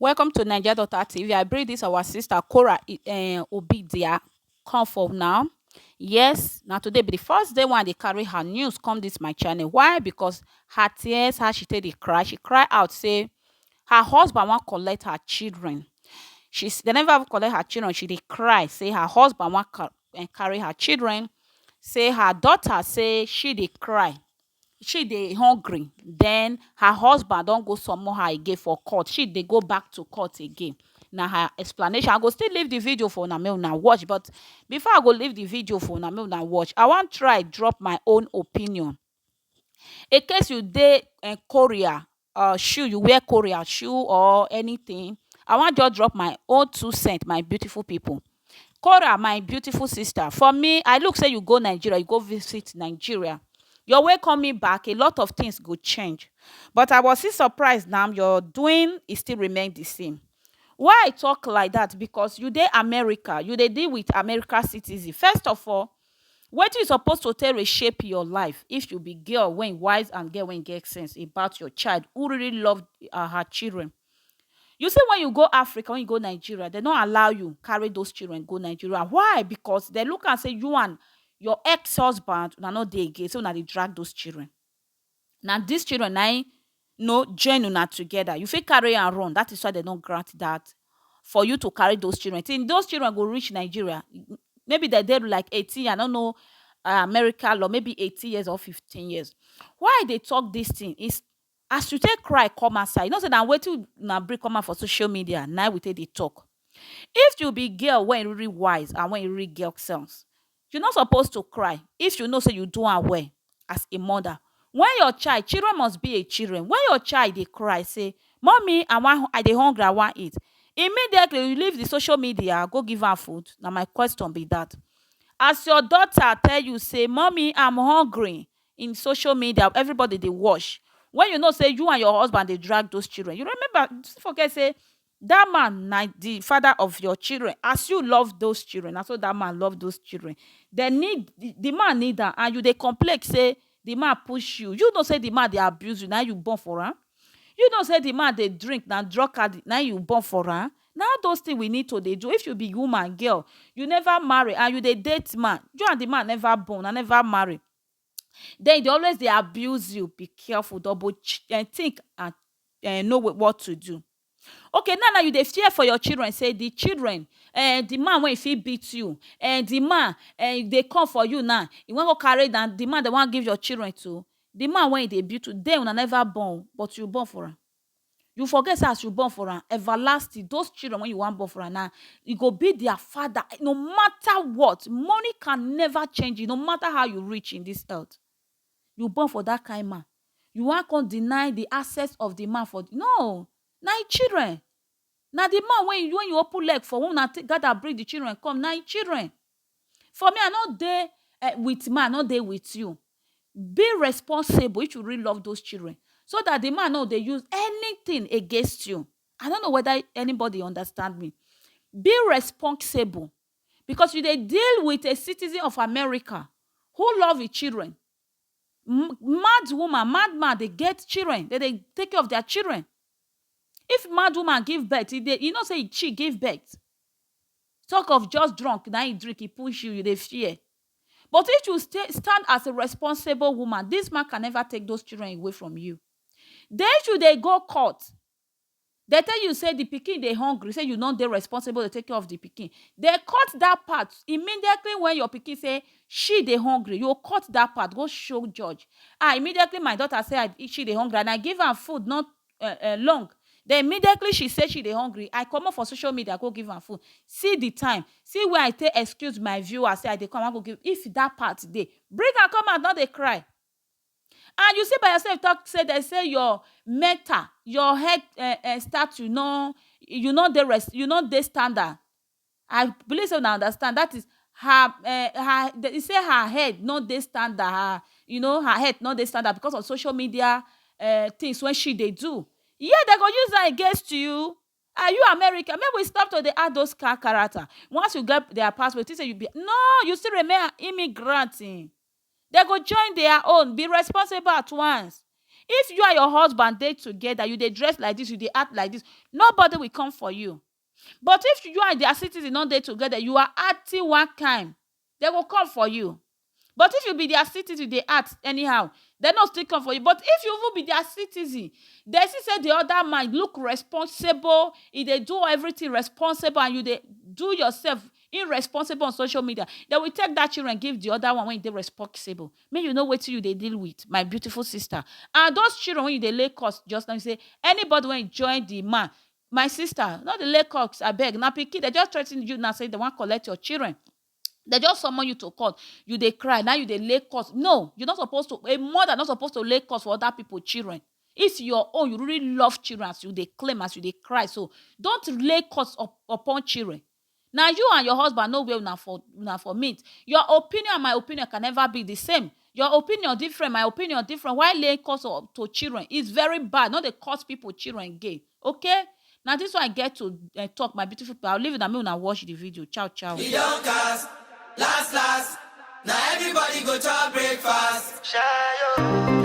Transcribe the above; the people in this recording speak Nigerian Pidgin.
Welcome to Naija Daughter TV. I bring this our sister Cora um Obidia come for now. Yes, now today be the first day when they carry her news come this my channel. Why? Because her tears, how she take the cry, she cry out say her husband wan collect her children. She they never collect her children. She dey cry say her husband wan eh, carry her children. Say her daughter say she dey cry she dey hungry den her husband don go summon her again for court she dey go back to court again na her explanation i go still leave the video for una make una watch but before i go leave the video for una make una watch i wan try drop my own opinion in case you dey um korea um shoe you wear korea shoe or anything i wan just drop my own two cent my beautiful people Kora my beautiful sister for me i look say you go Nigeria you go visit Nigeria your way coming back a lot of things go change but i was still surprised na your doing is still remain the same why i talk like that because you dey America you dey deal with America citizen first of all Wetin you suppose to take reshape your life if you be girl wey wise and girl wey get sense about your child who really love her children. You see wen you go Africa, wen you go Nigeria, dem no allow you carry those children go Nigeria. Why? Because dem look am sey you and your ex-husband, una no dey again, sey una dey drag those children. Na dis children na im no join una together. You fit carry am run. Dat is why dem no grant dat for you to carry those children. Till those children go reach Nigeria, maybe dem dey like eighteen years, I no know America law, maybe eighteen years or fifteen years. Why I dey talk dis thing is as you take cry come outside, you know sey na wetin una bring come out for social media na im we take dey talk. If you be girl wey e really wise and wey e really get sense, You no suppose to cry if you know say you do am well as a mother when your child children must be a children when your child dey cry say mummy I wan I dey hungry I wan eat immediately you leave the social media go give am food na my question be that as your daughter tell you say mummy I'm hungry in social media everybody dey watch when you know say you and your husband dey drag those children you remember don't forget say That man na the father of your children as you love those children na so that man love those children dem need the man need am and you dey complain say the man push you you know say the man dey abuse you na you born for am you know say the man dey drink na drug addict na you born for am na all those things we need to dey do if you be woman girl you never marry and you dey date man you and the man never born una never marry then e dey always dey abuse you be careful double think and know what to do. Okay now na you dey fear for your children sey di children um di man wey e fit beat you um di man um dey come for you now e wan go carry na di man dem wan give your children to di man wey e dey beat you den una never born but you born for am you forget sey as you born for am everlasting those children wey you wan born for am na e go be their father no matter what money can never change it no matter how you rich in this earth You born for that kind man, you wan come deny the access of the man for no, na him children, na the man wey you wey you open leg for wey una take gather bring the children come na him children. For me I no dey um with man I no dey with you, be responsible if you really love those children so that the man no dey use anything against you, I no know whether anybody understand me, be responsible because you dey deal with a citizen of America who love e children, mad woman, mad man dey get children, dem dey take care of dia children, if mad woman give birth, e dey, you know sey she give birth, talk of just drunk na im drink e push you, you dey fear, but if you stay, stand as a responsible woman, dis man can never take those children away from you, den if you dey go court, Dem tell you say di pikin dey hungry say you no dey responsible to take care of di pikin, dem cut dat part immediately wen your pikin say she dey hungry you go cut dat part go show judge ah immediately my daughter say she dey hungry and I give am food not long den immediately she say she dey hungry I comot for social media go give am food see di time see where I take excuse my viewers say I dey come I wan go give if dat part dey bring am come out no dey cry. And you still by yourself talk say dem say your mental, your head um um statue no, you no dey res, you no dey standard. I believe sey una understand. Dat is her um her e say her head no dey standard. Her you know, her head no dey standard becos of social media um tins wey she dey do. Yet de go use am against you. Are you America? Make we stop to dey act dos kakarata. Once you get dia passport, you think sey you be? No! You still remain an immigrant. Dem go join their own, be responsible at once. If you and your husband dey together, you dey dress like this, you dey act like this, nobody will come for you. But if you and their citizen no dey together, you are acting one kind, dem go come for you. But if you be their citizen, you dey act anyhow, dem no still come for you. But if you even be their citizen, dem see say the other man look responsible, e dey do everything responsible and you dey do yourself Im responsible on social media, dem will take dat children give di oda one wey e dey responsible, make you know wetin you dey deal with my beautiful sister and those children wey you dey lay curse just now, you say anybody wey e join di man, my sister no dey lay curse abeg na pikin dem just threaten you now say dem wan collect your children, dem just summon you to court you dey cry na you dey lay curse, no you no suppose to, a mother no suppose to lay curse for oda pipu children, if your own you really love children as you dey claim as you dey cry so, don't lay curse upon children Na you and your husband know where una for una for meet. Your opinion and my opinion can never be the same. Your opinion different, my opinion different. Why laying curse on to children? It's very bad. No dey curse people children again. Okay? Na this one I get to eh, talk, my beautiful people. I'll leave it and make una watch the video. Ciao, ciao. E don cast, last last, na everybody go chop breakfast. Shayo.